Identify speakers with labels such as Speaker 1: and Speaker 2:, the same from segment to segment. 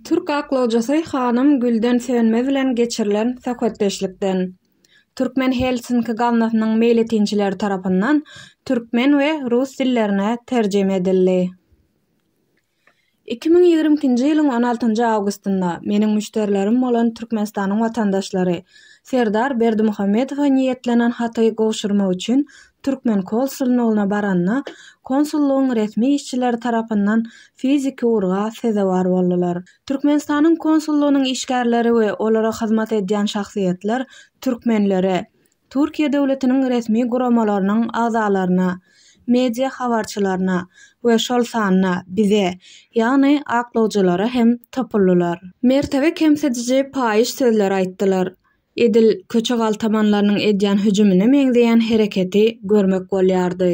Speaker 1: Türk aklawjysy hanym Gülden Sönmez bilen geçirilen söhbetdeşlikden Türkmen Helsinki gaznasynyň meýletinçileri tarapyndan türkmen we rus dillerine terjime edildi. Iki müň ýigrimi ikinji ýylyň on altynjy awgustynda meniň müşderilerim bolan Türkmenistanyň watandaşlary Serdar Berdimuhamedowa niýetlenen haty gowşurmak üçin türkmen konsulnygyna baranda, konsullygyň resmi işçileri tarapyndan fiziki urga sezewar boldular. Türkmenistanyň konsullygynyň işgärleri we olara hyzmat edýän şahsyýetler türkmenlere, Türkiýe döwletiniň resmi guramalarynyň agzalaryna, media habarçylaryna we şol sanda bize, ýagny aklawjylara hem topuldylar. Mertebe kemsidiji paýyş sözler aýtdylar. Edil köçe galtamanlarynyň edýän hüjümine meňzeýän hereketi görmek bolýardy.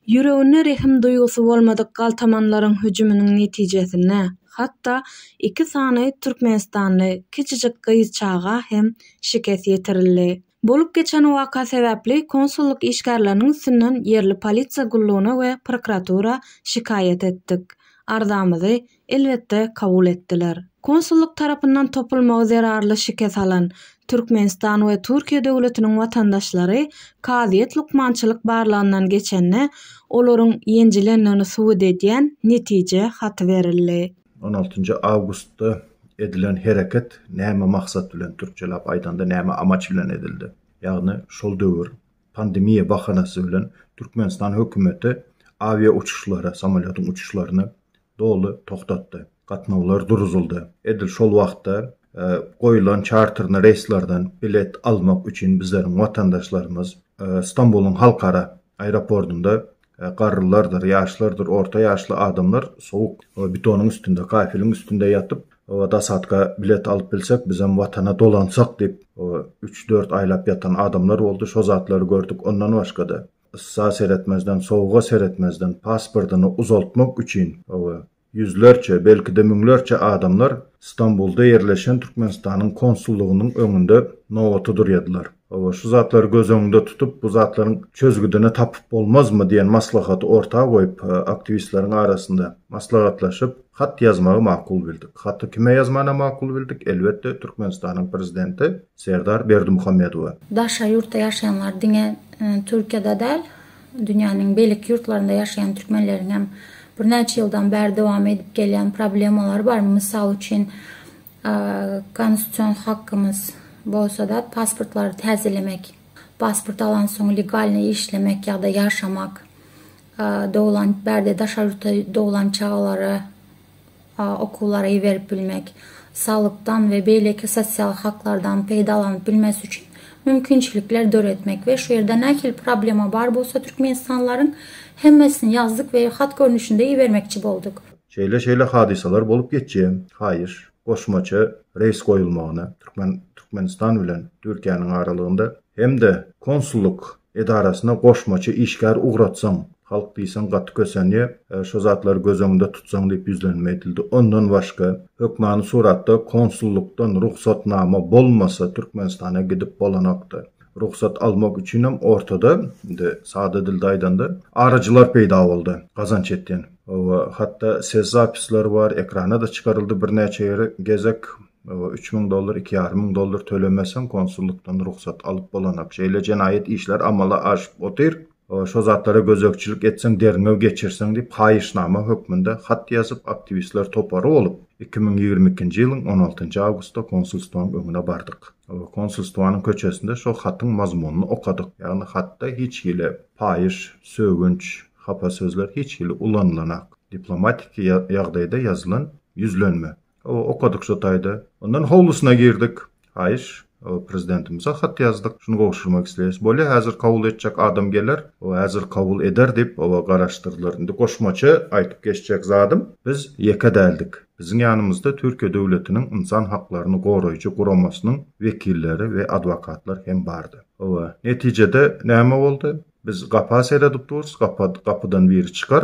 Speaker 1: Ýüreginde rehim duýgusy bolmadyk galtamanlaryň hüjüminiň netijesinde hatda iki sany türkmenistanly kiçijik gyzçaga hem şikes ýetirildi. Bolup geçen waka sebäpli konsullyk işgärleriniň üstünden ýerli polisiýa gullugyna we prokuratura şikaýat etdik. Arzamyzy, elbetde, kabul etdiler. Konsullyk tarapyndan topulmagy zerarly şikes alan Türkmenistan we Türkiýe döwletiniň watandaşlary kazyýet lukmançylyk barlagyndan geçende olaryň ýenjilendigini subut edýän netije haty berildi. On altynjy awgustda edilen hereket näme maksat bilen, türkçeläp aýdanda näme amaç bilen edildi? Ýagny şol döwür pandemiýa bahanasy bilen Türkmenistan hökümeti awia uçuşlary, samolýotyň uçuşlaryny doly togtatdy. Gatnawlar duruzyldy. Edil şol wagtda goýlan çarterni reýslerden bilet almak üçin bizleriň watandaşlarymyz Stambulyň halkara aeropordynda Garrylardyr, ýaşlardyr, orta ýaşly adamlar sowuk betonyň üstünde, kafeliň üstünde ýatyp, Dasatka bilet alyp bilsek, bizem Watana dolansak diýip, üç-dört aýlap ýatan adamlar boldy. Şo zatlary gördük. Ondan başga-da, yssa seretmezden, sowuga seretmezden, pasportyny uzaltmak üçin, Ýüzlerçe, belki-de müňlerçe adamlar Stambulda ýerleşen Türkmenistanyň konsullygynyň öňünde nobata durýadylar. Hawa, şu zatlary göz öňünde tutup, bu zatlaryň çözgüdini tapyp bolmazmy diýen maslahaty orta goýup, aktiwistleriň arasynda maslahatlaşyp, hat ýazmagy makul bildik. Haty kime ýazmana makul bildik? Elbetde, Türkmenistanyň prezidenti Serdar Berdimuhamedowa. Daşary ýurtda ýaşaýanlar diňe Türkiýede däl, dünýäniň beýleki ýurtlarynda ýaşaýan türkmenleriň hem birnäçe ýyldan bäri dowam edip gelýän problemalary bar. Mysal üçin, konstitusion hakymyz bolsa-da pasportlary täzelemek, pasport alansoň legalnyý işlemek ýa-da ýaşamak, doglan bärde daşary ýurtda doglan çagalara, okuwlara iberip bilmek, salykdan we beýleki sosial haklardan peýdalanyp bilmesi üçin mümkinçilikler döretmek we şu ýerde nähili problema bar bolsa türkmenistanlylaryň hemmesini ýazdyk we hat görnüşinde ibermekçi bolduk. Şeýle şeýle hadysalar bolup geçýär. Haýyş, goşmaça reýs goýulmagyny, Türkmen Türkmenistan bilen Türkiýäniň aralygynda hem-de konsullyk edarasyna goşmaça işgär ugratsaň, halk diýseň gaty kösenýär, şo zatlary göz öňünde tutsaň diýip ýüzlenme edildi. Ondan başga, hökmany suratda konsullykdan rugsatnama bolmasa Türkmenistana gidip bolanokdy. Rugsat almak üçinem ortada, indi sada dilde aýdanda, aryjylar peýda boldy, gazanç etýän. Hawa, hatda ses zapisleri bar, ekrana-da çykaryldy birnäçe gezek. Üç müň dollar, iki ýarym müň dollar tölemeseň, konsullykdan rugsat alyp bolanak. Şeýle jenaýat işler amala aşyp otyr. Şo zatlara gözegçilik etseň, derňew geçirseň diýip, haýyşnama hökmünde hat ýazyp, aktiwistler topary bolup, iki müň ýigrimi ikinji ýylyň on altynjy awgustda konsulstwaň öňüne bardyk. Konsulstwanyň köçesinde şo hatyň mazmunyny okadyk. Ýagny hatda hiç hili paýyş, sögünç, hapa sözler hiç hili ulanylanak. Diplomatiki ýagdaýda ýazylan ýüzlenme. Okadyk şo taýda. Ondan howlusyna girdik. Haýyş. Prezidentimize hat ýazdyk. Şuny gowşurmak isleýäs. Bolýa, häzir kabul etjek adam geler. Häzir kabul eder diýip, garaşdyrdylar. Indi goşmaça aýdyp geçjek zadym, biz ýeke däldik. Biziň ýanymyzda Türkiýe döwletiniň ynsan haklaryny goraýjy guramasynyň wekilleri we adwokatlar hem bardy. Hawa, netijede näme boldy? Biz gapa seredip durus, gapydan biri çykar,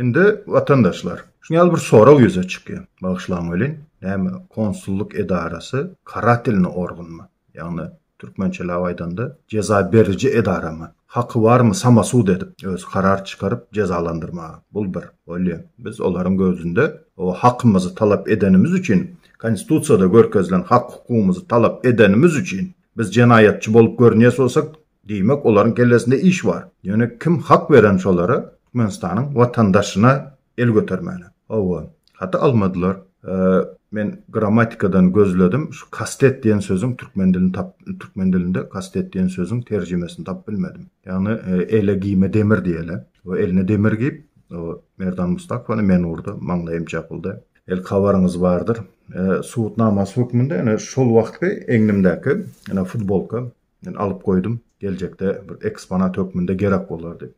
Speaker 1: Indi watandaşlar, şuny ýaly bir sorag ýüze çykýar. Bagyşlaň welin, näme konsullyk edarasy karatilny organmy? Ýagny türkmençeläp aýdanda jeza beriji edaramy? Haky barmy samasud edip, özi karar çykaryp jezalandyrmaga? Bul bir. Bolýa. Biz olaryň gözünde o hakymyzy talap edenimiz üçin, konstitusiýada görkezilen hak-hukugymyzy talap edenimiz üçin biz jenaýatçy bolup görünýäs bolsak, Diýmek, olaryň kellesinde iş bar. Ýöne kim hak beren şolara Türkmenistanyň watandaşyna el götermäne? Hawa, haty almadylar. Men grammatikadan gözledim, şu kastet diýen sözüň türkmen dilini tap, türkmen dilinde kastet diýen sözüň terjimesini tapyp bilmedim. Ýagny ele giýme demir diýeli. O eline demir giýip, o Merdan Mustakowany men urdy, maňlaýym çapyldy. El habaryňyz bardyr. Subutnamasy hökmünde ene şol wagtky egnimdäki ene futbolka Men alyp goýdum, geljekde bir eksponat hökmünde gerek bolar diýip.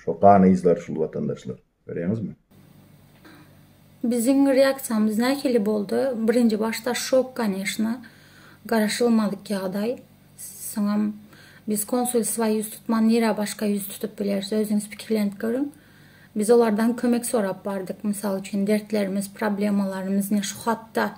Speaker 1: Şo gan yzlary şul watandaşlar. Görýäňizmi? Biziň reaksiýamyz nähili boldy? Birinji başda şok koneşna, garaşylmadyk ýagdaý. Soňam biz konsulstwa ýüz tutman nirä başga ýüz tutup bileris, özüňiz pikirlenip görüň. Biz olardan kömek sorap bardyk, mysal üçin dertlerimiz, problemalarymyz ine şu hatda,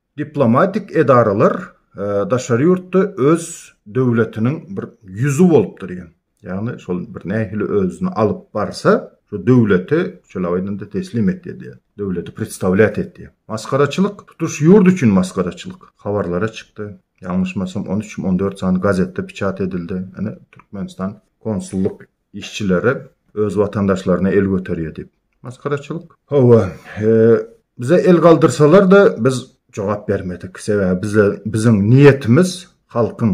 Speaker 1: Diplomatik edaralar daşary ýurtda öz döwletiniň bir ýüzi bolup durýar. Ýagny şol bir nähili özüni alyp barsa, şu döwleti şeýle aýdanda teslim etýär diýýär. Döwleti predstawlýat etýär. Masgaraçylyk, tutuş ýurt üçin masgaraçylyk. Habarlara çykdy. Ýalňyşmasam on üç, on dört sany gazetde piçat edildi. Ine Türkmenistan konsullyk Işçilere öz watandaşlaryna el göterýär diýip. Maskaraçylyk. Hawa, bize el galdyrsalar-da biz jogap bermedik. Sebäbi bize biziň niýetimiz halkyň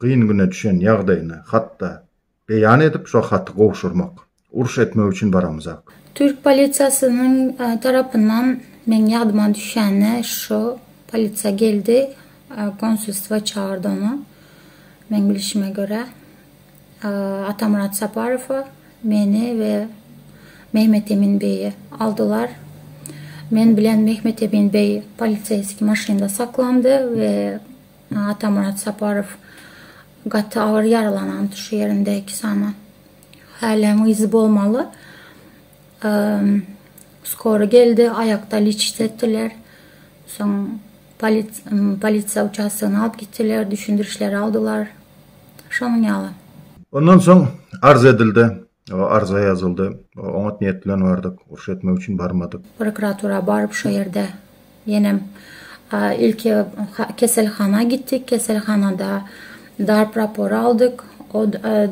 Speaker 1: gyn güne düşen ýagdaýyny hatda beýan edip şo haty gowşurmak. Uruş etmek üçin baramyzak. Türk polisiýasynyň tarapyndan meň ýadyma düşende şo polisiýa geldi, konsulstwa çagyrdy ony. Meň bilişime görä Atamyrat Saparowa meni we Mehmetemin beýi aldylar. Men bilen Mehmetemin beý poliseýski maşynda saklandy we Atamyrat Saparow gaty agyr ýaralanandy şu ýerinde iki sany häläň yzy bolmaly. Skora geldi, aýakda lişit etdiler. Soň. Polisiýa uçastogyna alyp gitdiler, düşündirişleri aldylar. Şonuň ýaly. Ondan soň arz edildi. Arza ýazyldy. Oňat niýet bilen bardyk. Uruş etmek üçin barmadyk. Prokuratura baryp şo ýerde ýenem ilki keselhana gitdik. Keselhanada Darp rapory aldyk. O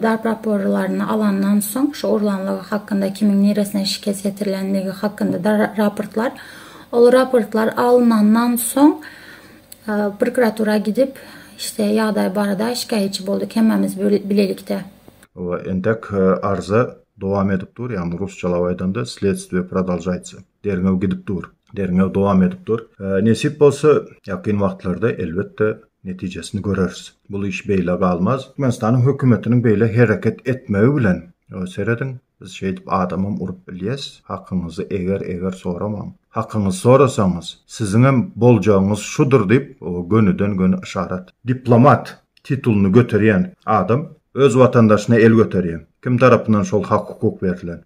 Speaker 1: darp raporlaryny alandan soň, şu urlanlygy hakynda, kimiň niresine şikes ýetirilendigi hakynda raportlar, ol raportlar alynandan soň prokuratura gidip, işte, ýagdaý barada şikaýatçy bolduk hemmämiz bilelikde. We entek arza dowam edip dur, ýagny rusçalap aýdanda, Sledstwie prodolžaýtsa. Derňew gidip dur. Derňew dowam edip dur. Nesip bolsa, ýakyn wagtlarda, elbetde, netijesini göreris. Bul iş beýle galmaz. Türkmenistanyň hökümetiniň beýle hereket etmegi bilen, serediň, biz şeýdip adamam urup bilýäs. Hakyňyzy eger-eger soramaň. Hakyňyzy sorasaňyz, siziňem boljagyňyz şudur diýip, gönüden-göni yşarat. Diplomat titulyny göterýän adam öz watandaşyna el göterýär. Kim tarapyndan şol hak-hukuk berlen?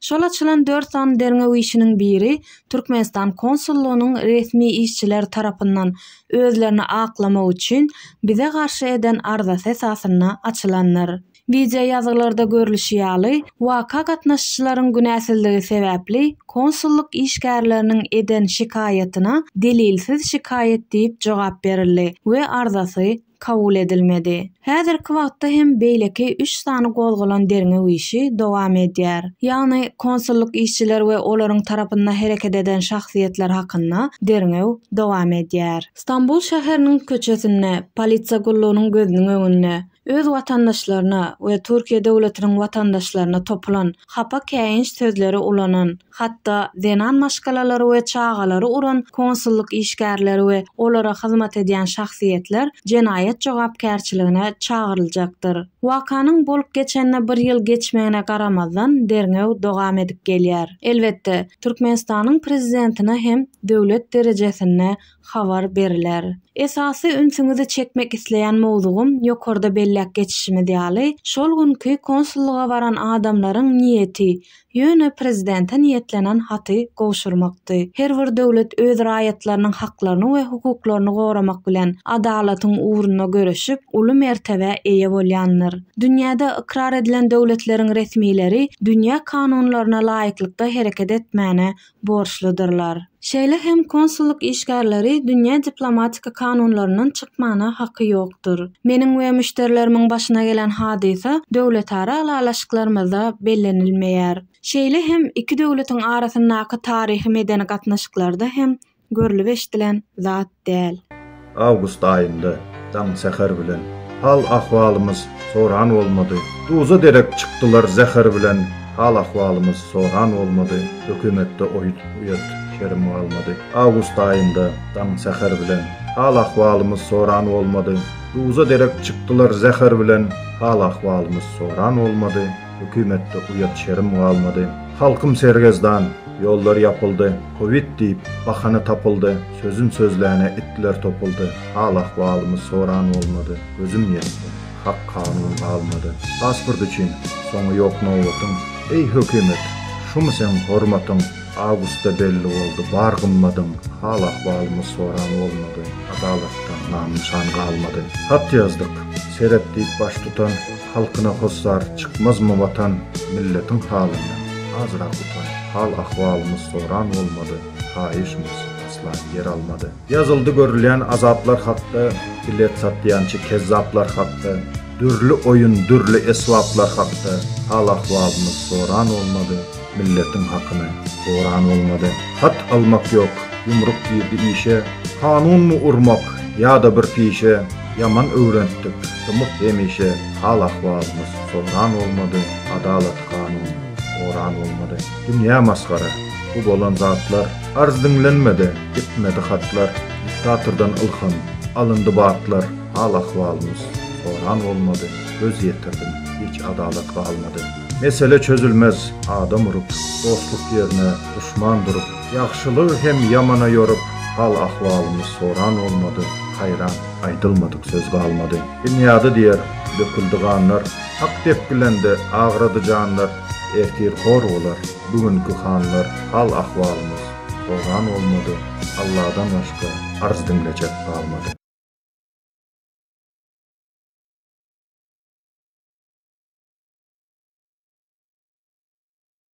Speaker 1: Şol açylan dört sany derňew işiniň biri Türkmenistan konsullygynyň resmi işçiler tarapyndan özlerini aklamak üçin bize garşy eden arzasy esasynda açylandyr. Wideoýazgylarda görlüşi ýaly, waka gatnaşyjylaryň günäsizligi sebäpli konsullyk işgärleriniň eden şikaýatyna delilsiz şikaýat diýip jogap berildi we arzasy kabul edilmedi. Häzirki wagtda hem beýleki üç sany gozgalan derňew işi dowam edýär. Ýagny konsullyk işçiler we olaryň tarapynda hereket eden şahsyýetler hakynda derňew dowam edýär. Stambul şäheriniň köçesinde, polisiýa gullugynyň gözüniň öňünde, öz watandaşlaryna we Türkiýe döwletiniň watandaşlaryna topulan, hapa käýinç sözleri ulanan, Hatda zenan maşgalalary we çagalary uran konsullyk işgärleri we olara hyzmat edýän şahsyýetler jenaýat jogapkärçiligine çagyryljakdyr. Wakanyň bolup geçenine bir ýyl geçmegine garamazdan, derňew dogam edip gelýär. Elbetde, Türkmenistanyň prezidentine hem döwlet derejesinde habar beriler. Esasy ünsüňizi çekmek isleýän mowzugym ýokarda belläp geçişimiz ýaly, şol günki konsullyga baran adamlaryň niýeti, ýöne prezidente niýetlenen haty gowşurmakdy. Her bir döwlet öz raýatlarynyň haklaryny we hukuklaryny goramak bilen, adalatyň ugrunda göreşip, uly mertebä eýe bolýandyr. Dünýäde ykrar edilen döwletleriň resmileri dünýä kanunlaryna laýyklykda hereket etmäne borçludyrlar. Şeýle hem konsullyk işgärleri dünýä diplomatik kanunlaryndan çykmana haky ýokdur. Meniň we müşderilerimiň başyna gelen hadysa döwletara ylalaşyklarymyzda bellenilmeýär. Şeýle hem iki döwletiň arasyndaky taryhy-medeni gatnaşyklarda hem görlüp-eşdilen zat. däl. Awgust aýynda, daň säher bilen, hal-ahwalymyz soran bolmady. Duza derek çykdylar zäher bilen, hal-ahwalymyz soran bolmady. Hökümetde oýut-uýat şerim galmady. Awgust aýynda, daň säher bilen, hal-ahwalymyz soran bolmady. Duza derek çykdylar zäher bilen, hal-ahwalymyz soran bolmady. Hökümetde uýat şerim galmady. Halkym sergezdan, ýollar ýapyldy. Kowid diýip, bahana tapyldy. Sözüm sözläne itler topuldy, hal-ahwalymy soran bolmady, gözüm ýetdi, hak kanun galmady. Pasport üçin, soňy ýok nobatyň, eý hökümet, şumy seň hormatyň, awgustda belli boldy bar gymmadyň, hal-ahwalymy soran bolmady, adalatdan nam-nyşan galmady. Hat ýazdyk, seret diýip baştutan, halkyna hossar, çykmazmy watan, milletiň halyndan, azrak utan, hal-ahwalymy soran bolmady. Haýyşmys, Aslan ýer almady. Ýazyldy görülýän azaplar hakda, Bilet satýançy kezzaplar hakda, Dürli oýun, dürli esbaplar hakda, Hal-ahwalymyz soran bolmady, Milletiň hakyny oran bolmady. Hat almak ýok, ýumruk girdi işe, Kanunmy urmak, ýa-da bir pişe, Ýaman öwrentdik, dymyk hemişe, Hal-ahwalymyz soran bolmady, Adalat-kanun oran bolmady. Dünýä masgara, bu bolan zatlar, Arz diňlenmedi, ýetmedi hatlar, Diktatordan ylham, alyndy batlar, Hal-ahwalymyz soran bolmady, Göz ýetirdim, hiç adalat galmady. Mesele çözülmez, adam urup, Dostluk ýerine duşman durup, Ýagşylygy hem ýamana ýorup, Hal-ahwalymyz soran bolmady, Haýran, aýdylmadyk söz galmady. Binýady diýer, döküldi ganlar, Hak depgilende, agrady janlar, Ertir hor bolar bu günki hanlar hal ahwalymyz soran bolmady Alladan başga arz diňlejek galmady.